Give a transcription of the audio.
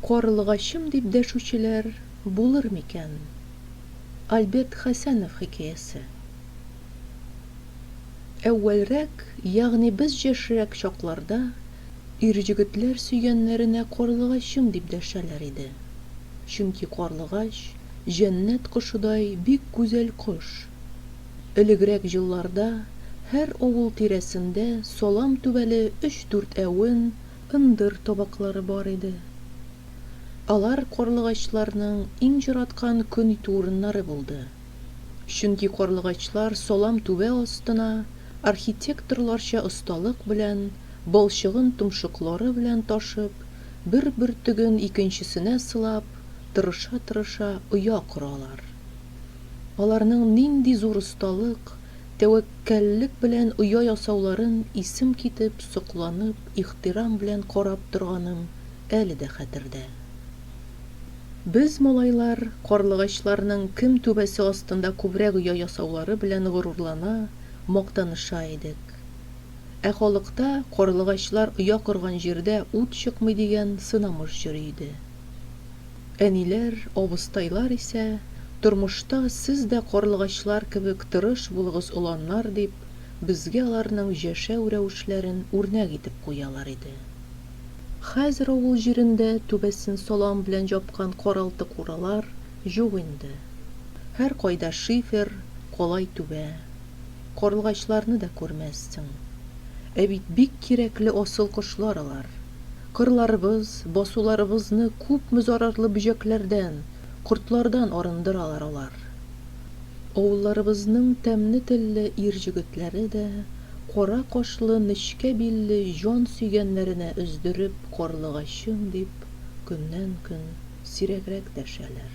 Карлыгачым дип дәшүчеләр булыр микән? Альберт Хәсәнов хикәясе. Әүвәлрәк, ягъни без җәшрәк чакларда, ирҗегетләр сөйгәннәренә карлыгачым дип дәшәләр иде. Чөнки карлыгач, җәннәт кошыдай бик гүзәл кош. Элегрәк җылларда һәр авыл тирәсендә салам түбәле өч-дүртәвен, ындыр табаклары бар иде. Алар карлыгачларның иң җараткан көн итү урыннары булды. Чөнки карлыгачлар салам түбә астына архитекторларча осталык белән балчыгын томшыклары белән ташып, бер бөртеген икенчесенә сылап, тырыша-тырыша оя коралар. Аларның нинди зур осталык, тәвәккәллек белән оя ясауларын исем китеп, сокланып, Ихтирам белән карап торганым әле дә хәтердә. Без, малайлар, карлыгачларның кем түбәсе астында күбрәк оя ясаулары белән горурлана, мактаныша идек. Ә халыкта карлыгачлар оя корган җирдә ут чыкмый дигән сынамыш йөри иде. Әниләр, абыстайлар исә, тормышта сез дә карлыгачлар кебек тырыш булыгыз оланнар дип, Безгә аларның җәшәү рәвешләрен үрнәк итеп куялар иде. Хәзер авыл җирендә түбәсен салам белән җапкан каралты-куралар юк инде. Һәркайда шифер, калай түбә. Карлыгачларны да күрмәссең. Ә бит бик кирәкле асыл кошлар алар. Кырларыбыз, басуларыбызны күпме зарарлы бөҗәкләрдән, кортлардан арындыралар алар. Авылларыбызның тәмле телле ир җегетләре дә кара кашлы нечкә билле җан сөйгәннәренә өздереп карлыгачым дип көннән-көн сирәгрәк дәшәләр.